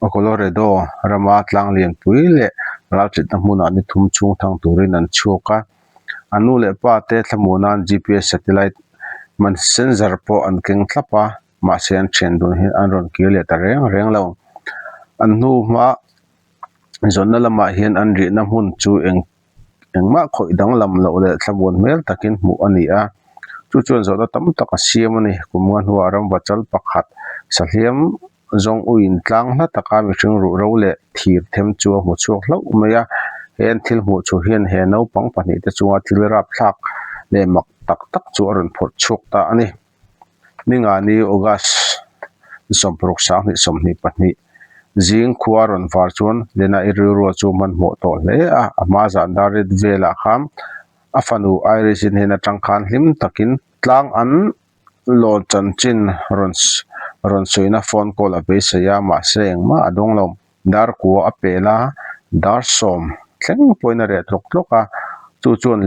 A Colorado rama tlang lianpui leh ralchitna hmunah ni thum chhung thang turin an chhuak a. A nu leh pa te thlamu nan GPS satellite man sensor pawh an keng thlap a, mahse an thian dun hi an rawn kir leh ta reng reng lo. An hnu hma zawnna lamah hian an rihna hmun chu eng engmah khawih danglam loh leh thlabuan hmel takin hmuh a ni a, chu chuan zawhna tam tak a siam a ni. Kumnga hnua rangva chal pakhat sahliam zawng u intlang hla taka mihring ruhro leh thir them chu a hmu chhuak hlauh mai a, he an thil hmuh chu hian he naupang pahnih te chunga thil rapthlak leh mak tak tak chu a rawn phawrh chhuak ta a ni. Mingani, August, ni sawmpu ruk sang hnih sawmhnih pahnih zing khua rawn var chuan Lena i rilrua chu hman hmawh tawh hle a. A hma zan dar rit velah khan a fanu Iris in hian a tangkhan hlim takin tlang an lawn chanchin rawn rawn suihna phone call a beisei a, mahse engmah a dawng lo. Dar kua a pel a, dar sawm thleng pawhin a reh tlawk tlawk a, chu chuan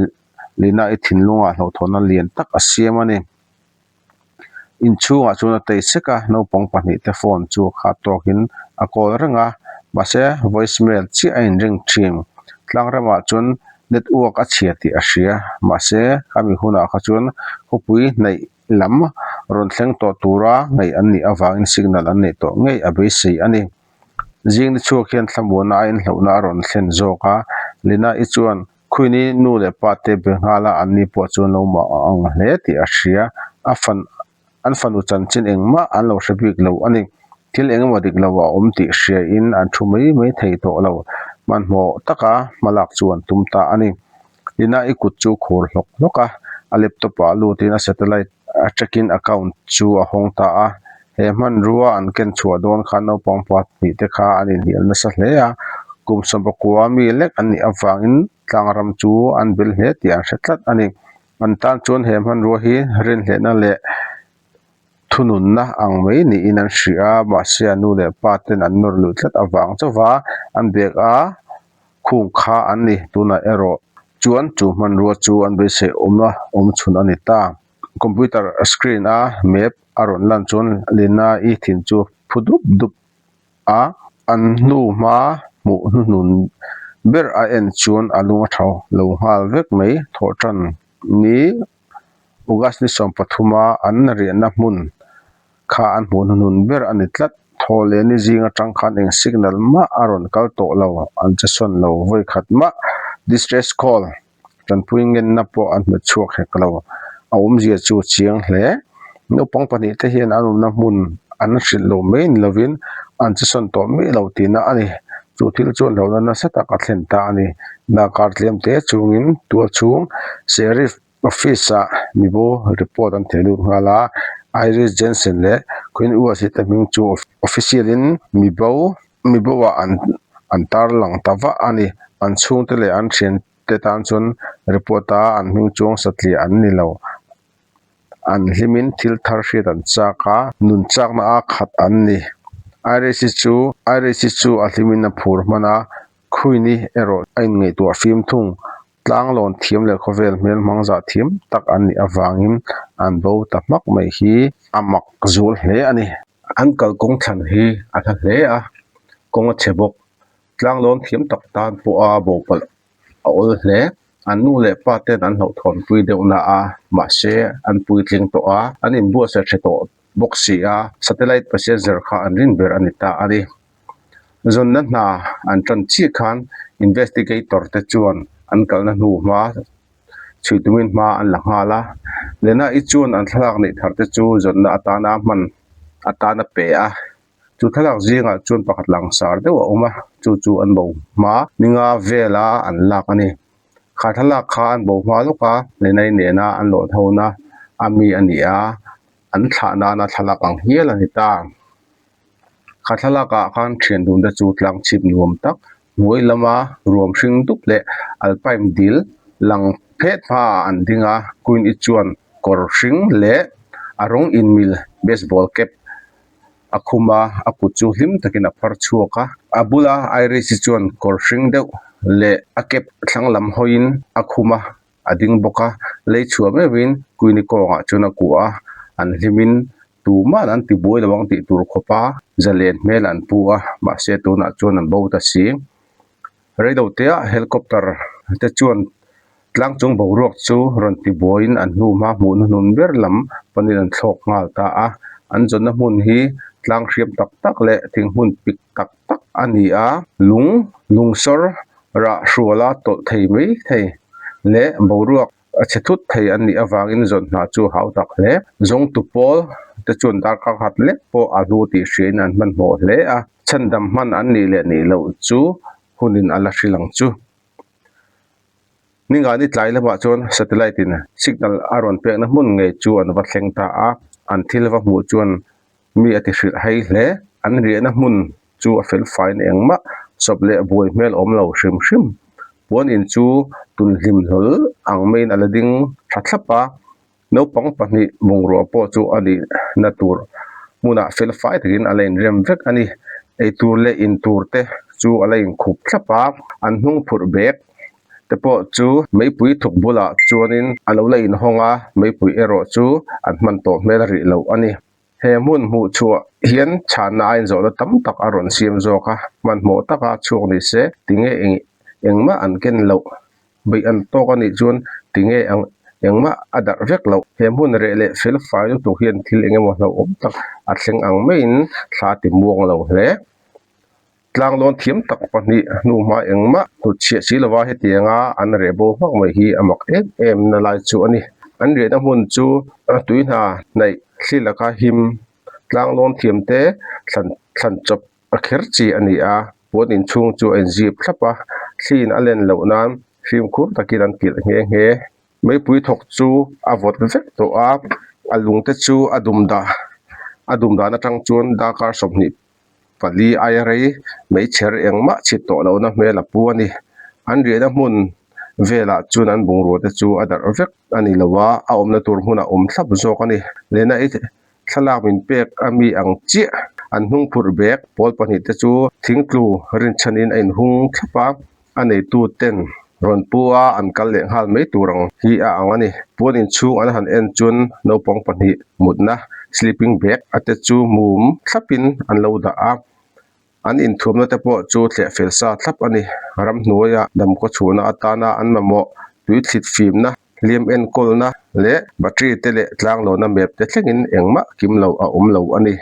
Lina i thinlunga hlawhtawhna lian tak a siam a ni. Inchhungah chuan a tei sek a, naupang pahnih te phone chu a khat tawkin a call reng a, mahse voice mail chiah a inreng thin. Tlangrama chuan let uak a chhia tih a hria. Mahse ami hunah kha chuan khawpui hnaih lam rawn thleng tawh tura ngaih an nih avangin signal an neih tawh ngei a beisei a ni. Zingni chhuak hian thlamuana a inhlauhna a rawn thlen zawk a, Lina i chuan. Khuin i nu leh pa te be nghâla anni pawh chu an lo mah ang hle tih a hria. A fan, an fanu chanchin engmah an lo hre bik lo a ni. Thil eng emaw dik lo a awm tih hriain an thu mai mai thei tawh lo. Hmanhmawh taka hmalak chu an tum ta a ni. Lina i kut chu khur hlawk hlawk a, a laptop-ah lutin a satellite tracking account chu a hawng ta a, He hmanrua an ken chhuah dawn khan naupang pakhat pahnih te kha an inhnial nasa hle a, kum sawmawkua mi lek an nih avangin tlangram chu an bel hle tih an hre tlat a ni. An tan chuan he hmanrua hi renhlehna leh thununna ang mai niin an hria a, mahse a nu leh pa ten an nawr luih tlat avang chauh a, an bag a khung kha an ni tunah erawh chuan chu hmanrua chu an beisei awm a awm chhun a ni ta. Computer screen a map a rawn lan chuan Lina i thin chu phu dup dup a, an hnu hma hmuh hnuhnun ber a en chuan a lung a tho lo nghal vek mai. Thawhṭhan ni August ni sawm pathuma an riahna hmun kha an hmuh hnuhnun ber a ni tlat. Thaw leh ni zing aṭang khan eng signal mah a rawn kal tawh lo, an che sawn lo vawi khat mah. Distress call. Tanpui ngenna pawh an hmu chhuak hek lo. A awmzia chu chiang hle. Naupang pahnih te hian an awmna hmun an hrilh lo mai ni lovin an chi sawn tawh mai lo tihna a ni. Chu thil chu hlauhna nasa tak a thlen ta a ni. Darkar tlem te chungin tual chhung Sheriff Office ah mibu report an theh lut nghal a. Iris Jensen leh Quinn Uasit-a hming chu official in mibo mi boa an an tar lang ta vah a ni. An chhungte leh an thiante tan chuan report a an hming chu ang satliah an ni lo. An hlimin thil thar hriat an chak a, nun chakna a khat an ni. IRC chu IRC chu a hlimin a phur hman a, khuini erawh a inngaihtuah fim thung, tlanglawn thiam leh khawvel hmel hmangzah thiam tak an nih avangin an bo ta hmak mai hi a mak zual hle a ni. Uncle kawng thlan hi a hla hle a, kawng a chhe bawk. Tlanglâwn thiam tak tân pawha bopalh a awl hle. An nu leh pa ten an hlauhthawn pui deuh na a, mahse an puitling tawh a, an inbuatsaih ṭha tawh bawk si a, satellite pasiat zer kha an rinber a ni ta a ni. Zawnna hna an ṭan chiah khan investigator-te chuan an kalna hnu hma chhui tumin hma an la nghal a, Lena i chuan an thlalak neih thar te chu zawtna atana a hman atana pe a, chu thlalak zingah chuan pakhat langsar deuh a awm a, chu chu an bo hma ninga vela an lak a ni. Kha thlalak kha an bo hma lawka Lena-i nena an lawh tho na a mi a ni a, an thlah nana thlalak ang hial a ni ta. Kha thlalak ah khan thian dun te chu tlang chhip nuam tak hnuai lama ruam hring dup leh alpaim dil lang phet hma ah an ding a. Queen I chuan kawr hring leh a rawng in mil baseball cap a khum a, a kut chu hlim takin a phar chhuak a. A bula Iris I chuan kawr hring deuh leh a cap thlang lam hawiin a khum a. a ding bawk a lei chhuah meuh in kuini kawngah chuan a kuah a an hlim in tumah an ti buai lo ang tih tur khawp a zalen hmel an pu a mahse tunah chuan an bo ta si reido teh a helicopter te chuan tlang chung boruak chu rawn ti buai in an hnu hma hmuh na nun ber lam panin an thlawk nghal ta a an zawrhna hmun hi tlang hriam tak tak leh thinghmun pik-- tak tak a ni a lung lungsawr rah hruala tawlh thei mai thei leh boruak a chhe thut thei an nih avangin zawrh hna chu a hau tak hle zawngtu pawl te chuan darkar nghat lek pawh a hnu tih hriain an hmanhmawh hle a chhandam hman an nih leh nih loh chu hunin a la hrilh ang chu Ningani tlai lamah chuan satellite in signal a rawn pekna hmun ngei chu an va thleng ta a an thil va hmuh chuan mi a ti hrilh hai hle, an riahna hmun chu a felfaiin eng mah sawp leh buai hmel awm lo hrim hrim. Puan in chu tun hlim hlawl ang maiin a la ding tha thlap a, naupang pahnih bungrua pawh chu a nih na tur hmunah felfai takin a la in rem vek a ni, ei tur leh in tur te chu a la in khup thlap a, an hnung phurh bek te pawh chu Meipui thuk bulah chuanin a lo la in hawng a, Meipui erawh chu an hman tawh hmel rih loh a ni. He hmun hmuh chhuah hian chhanna ainzawhna tam tak a rawn siam zawk a, hmanhmawh taka chhuak ni se, tinge engmah an ken loh? Beih an tawk a nih chuan tinge engmah a darh vek loh? He hmun reh leh felfai lutuk hian thil engemaw hlauhawm tak a thleng ang maiin thla ti muang lo hle. Tlanglawn thiam tak pahnih hnu hma engmah hnutchhiah si lova hetianga an reh bo hmak mai hi a mak em em nalai chu a ni. An riahna hmun chu tui hna hnaih hli laka him tlanglawn thiam te thlan thlan chawp a kher chi a ni a, puan inchhung chu a inzip thlap a, thlin a len loh nan fimkhur takin an kilh nghe nghe. Meipui thawk chu a vawt vek tawh a, a lungte chu a dum dah, a dum dan atang chuan darkar sawmhnih pali aia rei mai chher engmah chhit tawh lohna hmel a pu a ni. An riahna hmun velah chuan an bungrua te chu a darh vek a ni lo a, a awmna tur hmun a awm thlap zawk a ni. Lena i thlalak min pek a mi ang chiah an hnungphurh bag pawl pahnih te chu thingtlu rinchhanin a inhung thlap a, A neituten rawn pu a an kal leh nghal mai tur ang hi a ang a ni. Puan inchhung an han en chuan naupang pahnih mutna sleeping bag a te chu mum thlap in an lo dah a. An inthuamna te pawh chu tlehfel sa thlap a ni. Ram hnuaia damkaw chhuhna atana an mamawh tui thlit fimna, hliam en kawlna leh battery te leh tlanglawna map te thlengin engmah kim lo a awm lo a ni.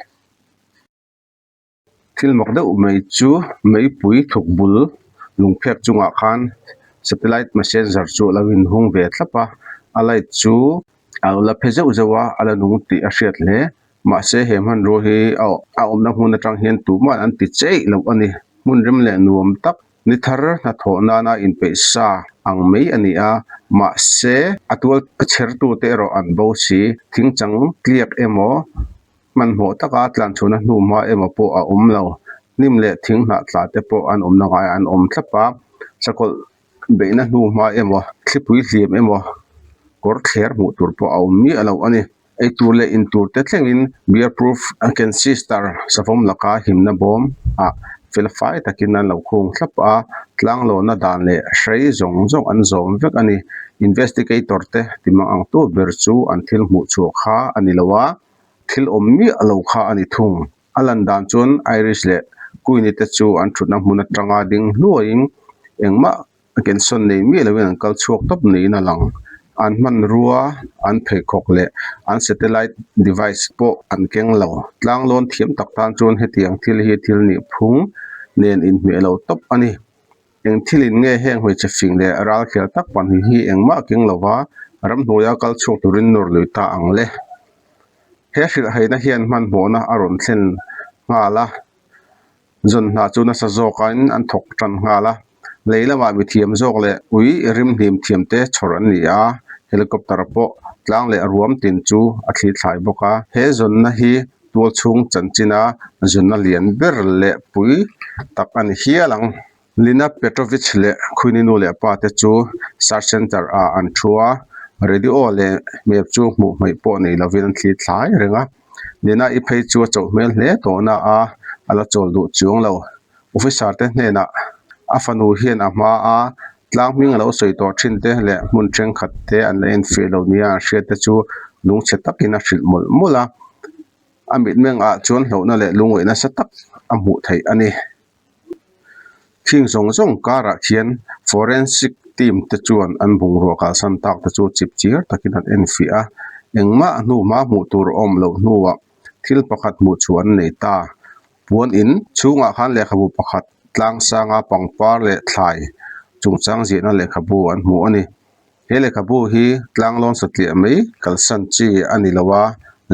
Thil mak deuh mai chu meipui thukbul lungphek chungah khan satellite messenger chu a lo inhung ve thlap a, a light chu a lo la phe zeuh zeuh a, a la nung tih a hriat hle. Mahse he hmanrua hi a a awmna hmun atang hian tumah an ti cheih loh a ni. Hmun rem leh nuam tak ni thar hnathawh nana inpeih sa ang mai a ni a, mahse a tual a chhertute erawh an bo si, thingchang tliak emaw Hmanhmawh taka tlanchhuna hnu hma emaw pawh a awm lo. Hnim leh thing hnah tla te pawh an awmna ngai an awm thlap a. Sakawlh beihna hnu hma emaw, thlipui hliam emaw kawr thler hmuh tur pawh a awm miah loh a ni. Eitur leh intur te thlengin Beer Proof Kensister savawm laka himna bawm ah fel fai takin an lo khung thlap a. Tlanglawna dan leh hrei zawng zawng an zawm vek a ni. Investigator te timang ang tu ber chu an thil hmuh chhuah kha a ni lo a. Thil awm miah lo kha a ni thung. A lan dan chuan Irish leh Queenie te chu an thutna hmun atanga ding hluaiin engmah kensawn nei miah loin an kal chhuak tawp niin a lang. An hmanrua, an pheikhawk leh an satellite device pawh an keng lo. Tlanglawn thiam tak tan chuan hetiang thil hi thil nihphung nen inhmeh lo tawp a ni. Eng thilin nge heng hawi che fing leh ral khial tak pahnih hi engmah a keng lova ramhnuaia kal chhuak turin nawr lui ta ang le. He hrilhheihna hian hmanhmawhna a rawn thlen nghal a, zawn hna chu nasa zawkin an thawk tan nghal a, lei lamah mithiam zawk leh ui rimhnim thiam te chhawr an ni a, helicopter pawh tlang leh ruam tin chu a thlithlai bawk a. He zawnna hi Tualchhung chanchinah zunna lian ber leh pui tak a ni hial ang. Lina Petrovich leh Khuininu leh pa te chu Search Centre ah an thu a, radio leh map chu hmuh hmaih pawh nei lovin an thlir thlai reng a. Lina i phei chu a chauh hmel hle tawhna a a la chawl duh chuang lo. Officer te hnenah a fanu hian a hma a tlang hming a lo sawi tawh thin te leh hmun thenkhat te an la enfiah lo nia an hriat te chu lung chhe takin a hrilh mawlh mawlh a, a mitmeng ah chuan hlauhna leh lungawi nasa tak a hmuh theih a ni. Khing zawng zawng karah khian forensic team te chuan an bungrua kalsan tak te chu chip chir takin an enfiah a, engmah hnuma hmuh tur awm loh hnuah thil pakhat hmuh chhuah an nei ta. Puan in chhungah khan lehkhabu pakhat, Tlangsanga pangpar leh thlai chungchang ziahna lehkhabu an hmuh a ni. He lehkhabu hi Tlanglawn satliah mai kalsan chi a ni lo a,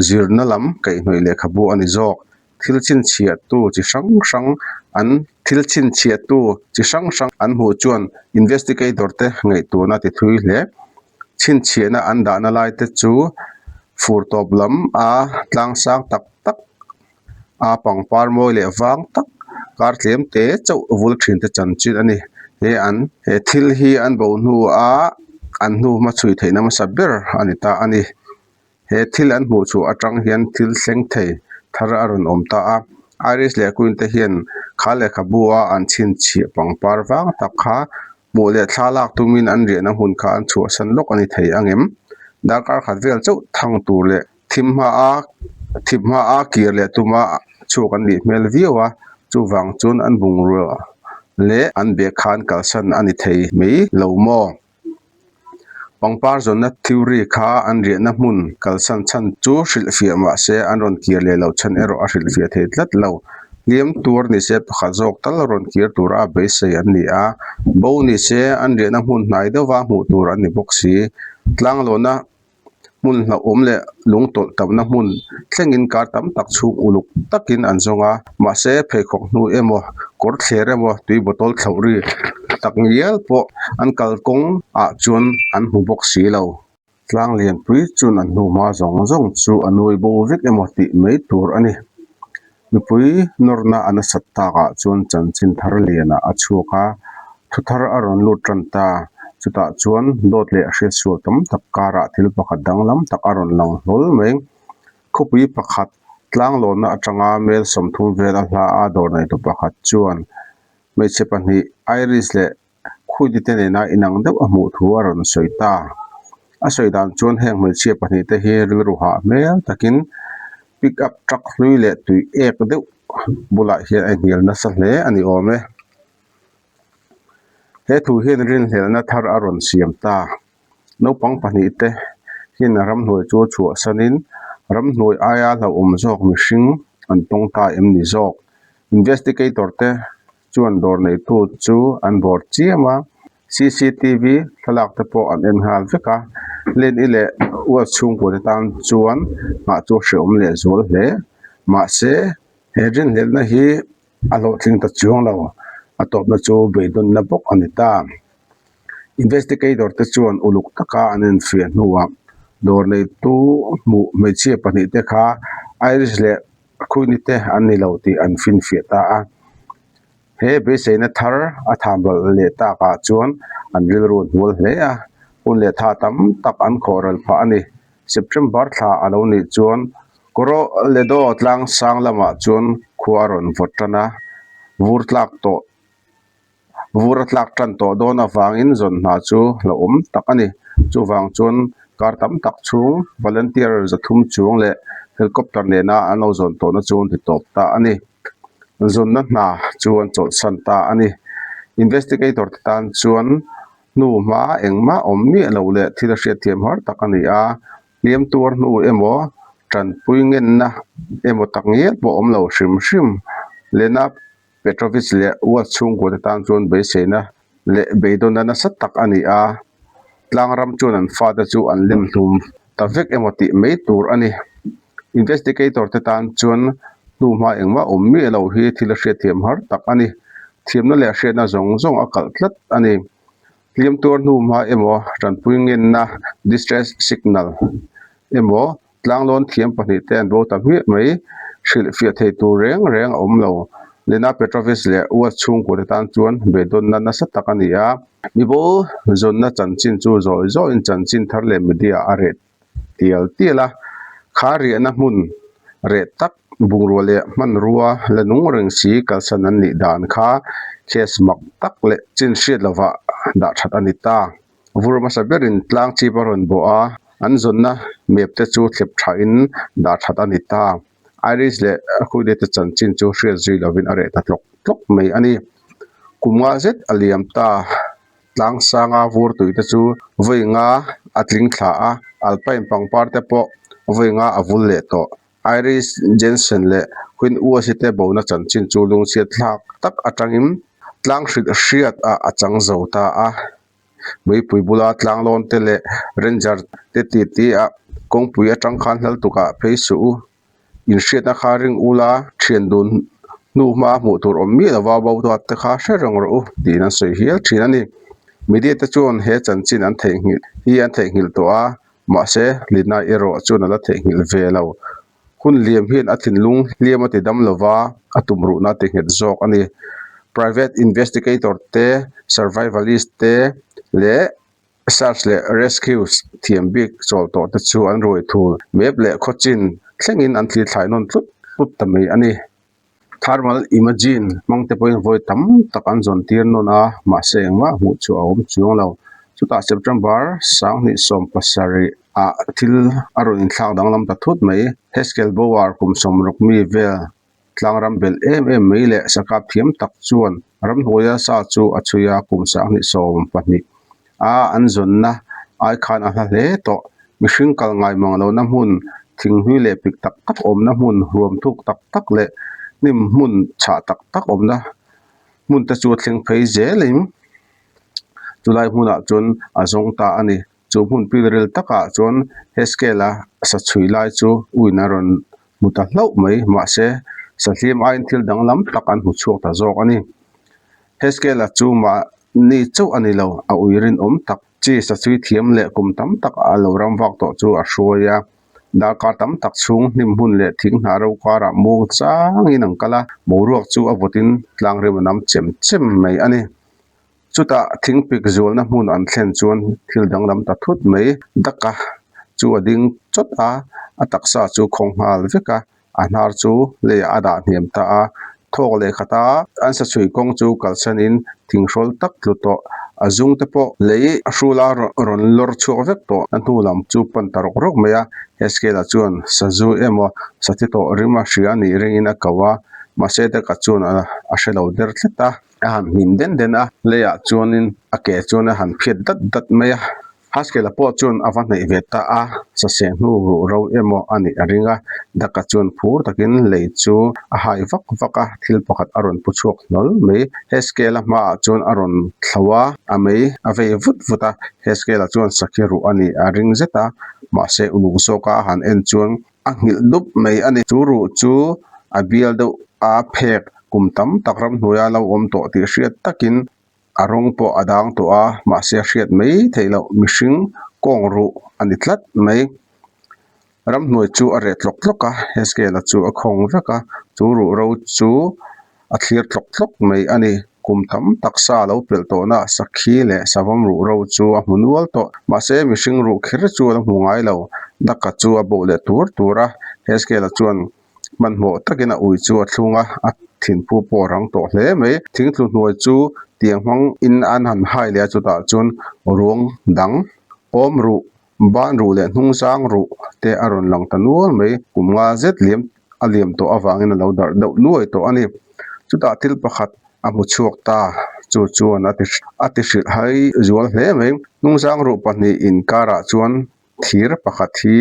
zirna lam kaihhnawih lehkhabu a ni zawk. Thil chhinchhiahtu chi hrang hrang an Thil chhinchhiahtu chi hrang hrang an hmuh chuan investigator te ngaihtuna ti thui hle. Chhinchhiahna an dahna lai te chu fur tawp lam a tlangsang tak tak a pangpar mawi leh vang tak kar tlem te chauh vul thin te chan chin a ni he an he thil hi an bauh hnu a an hnu hma chhui theih nasa ber a ni ta a ni he thil an hmuh chu atang hian thil thleng thei thar a rawn awm ta a iris leh queen te hian kha lehkhabu a an chhinchhip pangpar vang tak kha-- Hmuh leh thla lak tumin an riahna hmun kha an chhuahsan lawk a ni thei ang em? Darkar khat vel chauh thang tur leh thim hmaa thip hmaa kir leh tuma chhuak an nih hmel viau a, chuvang chuan an bungrua leh an bag khan kalsan a ni thei mai lo maw? pangpar zawnna theory kha an riahna hmun kalsan chhan chu hrilh fiah mah se an rawn kir leh loh chhan erawh a hrilh fiah thei tlat lo. Hliam tur ni se pakhat zawk tal a rawn kir tura beisei an ni a, bo ni se an riahna hmun hnai deuha hmuh tur an ni bawk si. Tlanglawna hmun hnahawm leh lung tawlh tamna hmun thlengin kar tam tak chhung uluk takin an zawng a, mahse pheikhawk hnu emaw, kawr thler emaw, tui bottle thloh ri tak ngial pawh an kal kawng ah chuan an hmu bawk si lo. Tlang lianpui chun a hnuhma zawng zawng chu a nuai bo vek emaw tih mai tur a ni. Nupui nawrna a nasat takah chuan chanchin thar liana a chhuak a, thu thar a rawn lut tan ta. Chutah chuan dawt leh hriatsual tam tak karah thil pakhat danglam tak a rawn lang hlawl mai. Khawpui pakhat tlanglawnna atanga Melsawm thum vel a hla a dawr neihtu pakhat chuan hmeichhe pahnih Iris leh Khuitite nena inang deuh a hmuh thu a rawn sawi ta. A sawi dan chuan heng hmeichhia pahnih te hi rilru hah hmel takin pick up truck hlui leh tui ek deuh bulah hian a inhnial nasa hle a ni awm e. He thu hian rinhlelna thar a rawn siam ta. Naupang pahnih te hian ramhnuai chu chhuah sanin ramhnuai aia hlauhawm zawk mihring an tawng ta em ni zawk. Investigator te chuan dawr neihtu chu an bawr chiam a, CCTV thlalak te pawh an en nghal vek a, Len-i leh Uat chhungkute tan chuan nghah chu a hrehawm leh zual hle. Mahse, he rinhlelhna hi a hlawhtling ta chuang lo, a tawpna chu beidawtna bawk a ni ta. Investigator te chuan uluk taka an en fiah hnuah dawr neihtu hmuh hmeichhia pahnih te kha Irish leh A khuini te an ni lo tih an finfiah ta a, he beiseina thar a tham ral leh takah chuan an rilru hnual hle a, hun leh tha tam tak an khawh ral phah a ni. September thla a lo nih chuan Coroledo tlangsang lamah chuan khua a rawn vawt tan a, vur tlak tawh Vur a tlak tan tawh dawn avangin zawn hna chu la awm tak a ni. Chuvang chuan kar tam tak chhung volunteer zathum chuang leh helicopter nena an lo zawn tawhna chu an ti tawp ta a ni. Zawnna hna chu an chawlhsan ta a ni. Investigator te tan chuan hnu hma engmah awm miah lo leh thil a hriat thiam har tak a ni a, hliam tuar hnu emaw tanpui ngenna emaw tak ngial pawh awm lo hrim hrim. Lena Petrovich leh Watts chhungkûate tân chuan beiseina leh beidawna nasa tak a ni a, tlâng ram chuan an fate chu an lem hlûm ta vek emaw tih mai tûr a ni. Investigator-te tân chuan hnu hma engmah awm miah lo hi thil a hriat thiam hâr tak a ni. Thiamna leh hriatna zawng zawng a kalh tlat a ni. Hliam tuar hnu hma emaw, ṭanpui ngenna, distress signal, emaw Tlanglâwn thiam pahnih te an bo ta hmiah mai, hrilh fiah thei tur reng reng a awm lo. Lena Petrovich leh U-a chhungkaw te tân chuan be dawnna nasa tak a ni a. Mi bo zawnna chanchin chu zawi zawiin chanchin thar leh media a reh tial tial a. Khâ riahna hmun reh tak, bungrua leh hmanrua la nungreng si kalsan an nih dan kha case mak tak leh chin hriat lovah dah that a ni ta. Vur hmasa berin tlang chip a rawn bawh a, an zawnna map te chu thlep tha in dah that a ni ta. Iris leh Huideta chanchin chu hriat zui lo in a reh ta tlawk tlawk mai a ni. Kum nga zet a liam ta tlang sanga vur tui te chu vawi nga a tling thla a, alpain pangpar te pawh vawi nga a vul leh tawh Iris Jensen leh Queen Uasi te bawna chanchin chu lungchhiatthlak tak atangin tlang hrit hriat ah a chang zo ta a. Meipui bula Tlanglawng te leh Ranger te titi ah kawngpui atang khan hlal tuk ah phei suh u, inhriatna kha ring u la, thian dun hnu hma hmuh tur awm miah lo va bo duat te kha hre reng rawh u tiin an sawi hial thin a ni. Media te chuan he chanchin an theihnghilh hi an theihnghilh tawh a, Mahse, Linai erawh chuan a la theihnghilh ve lo. Hun Liam hian a thinlung hliam a ti dam lo va, a tumruhna a ti nghet zawk a ni. Private Investigator te, Survivalist te leh Search leh Rescues thiam bik chawl tawh te chu an ruai thul mep leh khaw chin thlengin an thlir thlai nawn tlut tlut ta mai a ni. Tharmal Imagine hmangte pawhin vawi tam tak an zawn tir nawn a, mahse engmah hmuh chu a awm chuang lo. Chutah September sanghnih sawm pasarih ah thil a rawn inthlak danglam ta thut mai, Haskell Bower kum sawmrawk mi vel tlangram belh em em mai leh sakap thiam tak chuan, Ramhnuaia sa chu a chhui a, kum sanghnih sawm pahnih a an zawnna ai khan a hla hle tawh. Mihring kal ngaimang lohna hmun, thinghlui leh pik tak tak awmna hmun, huam thuk tak tak leh hnim hmun chhah tak tak awmna hmunte chu a thleng phei zelin chulai hmunah chuan a zawng ta a ni. Chu hmun pilril takah chuan Heskiela sa chhui lai chu uina rawn hmu ta hlauh mai. Mahse, Sathiam aiin thil danglam tak an hmu chhuak ta zawk a ni. Heskiela chu mahni chauh a ni lo, a ui rinawm tak. Chi sa chhui thiam leh kum tam tak a lo ram vak tawh chu a hruai a. Darkar tam tak chhung hniphmun leh thing hna rokarah mung changin an kal a, boruak chu a vutin tlangrem a nam chem chem mai a ni. Chutah thing pik zualna hmun an thlen chuan thil danglam ta thut mai Daka chu a ding chawt a, a taksa chu khawng nghal vek a, a hnar chu leiah a dah hniam ta a, thawk leh khat a an sa chhui kawng chu kalsan in thing hrawl tak tlu tawh, a zung te pawh lei a hrul a, rawn lawr chhuak vek tawh a hnu lam chu pan ta rawk rawk mai a, he scale-ah chuan sa zu emaw sa thi tawh rim a hria nih rengin a ko a, mahse Daka chuan a hre lo der tlat a. a han hlim den den a lei ah chuanin a ke chuan a han phiat dat dat mai a haskell a pawh chuan a va hnaih ve ta a sase hnu ruh ro emaw a nih a ring a daka chuan phur takin lei chu a hai vak vak a thil pakhat a rawn pu chhuak hlawl mai haskell a hmaah chuan a rawn thlo a a mei a vei vut vut a haskell ah chuan sakhi ruh a nih a ring zet a mahse uluk zawk a a han en chuan A nghilh dup mai a ni. Chu ruh chu a bial deuh a phek kum tam tak ramhnuaia lo awm tawh tih hriat takin a rawng pawh a dang tawh a, mahse a hriat mai theih loh mihring kawng ruh a ni tlat mai. Ramhnuai chu a reh tlawk tlawk a, he scale-a chu a khawng vek a, chu ruh ro chu a thlir thlawk thlawk mai a ni. Kum tam tak sa lo pelh tawhna ah sakhi leh savam ruh ro chu a hmu nual tawh. Mahse, mihring ruh kher chuan a hmu ngai lo. Daka chu a bawh leh tur tur a. Heskela chuan hmanhmawh takin a ui chu a thlung a, a thinphu pawh a rang tawh hle mai. Thingtlu hnuai chu tiang hmang in an han hai leh a chutah chuan ruang dang awm ruh Ban ruh leh hnung sang ruh te a rawn lang ta nual mai. Kum nga zet liam a liam tawh avangin a lo darh deuh nuai tawh a ni. Chutah thil pakhat a hmu chhuak ta chu chuan a ti a ti hrilh hai zual hle mai. Hnung sang ruh pahnih inkarah chuan thir pakhat hi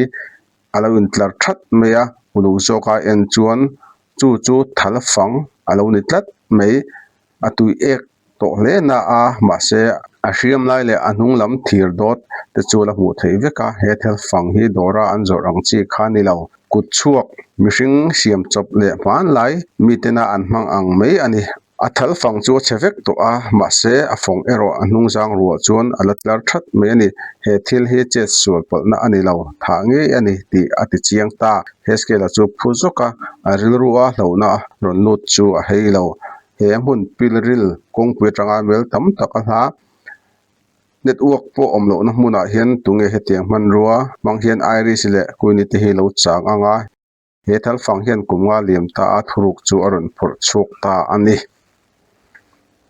a lo intlar that mai a, ulu zawka en chuan chu chu thal fang a lo ni tlat mai. a tuih ek tawh hle na a, mahse a hriam lai leh a hnung lam thir dawt te chu la hmuh theih vek a, he thel fang hi dawra an zawrh ang chi kha ni lo, kut chhuak mihring siam chawp leh hmanlai mi tena an hmang ang mai a ni, a thal fang chu a chhe vek tawh a, mahse a fawng erawh a hnung zang ruah chuan a la tlar that mai a ni, he thil hi chet sual palhna a ni lo, thah ngei a ni tih a ti chiang ta, Hezkela chu phu zawk a, a rilru a hlona rawn lut chu a hei lo. he hmun pilril kawngpui atanga mel tam tak a hla network pawh awm lohna hmunah hian tunge hetiang hmanrua hmang hian iris leh kuini te hi lo chang ang a he thalfang hian kum nga liam ta a thuruk chu a rawn phawrh chhuak ta a ni.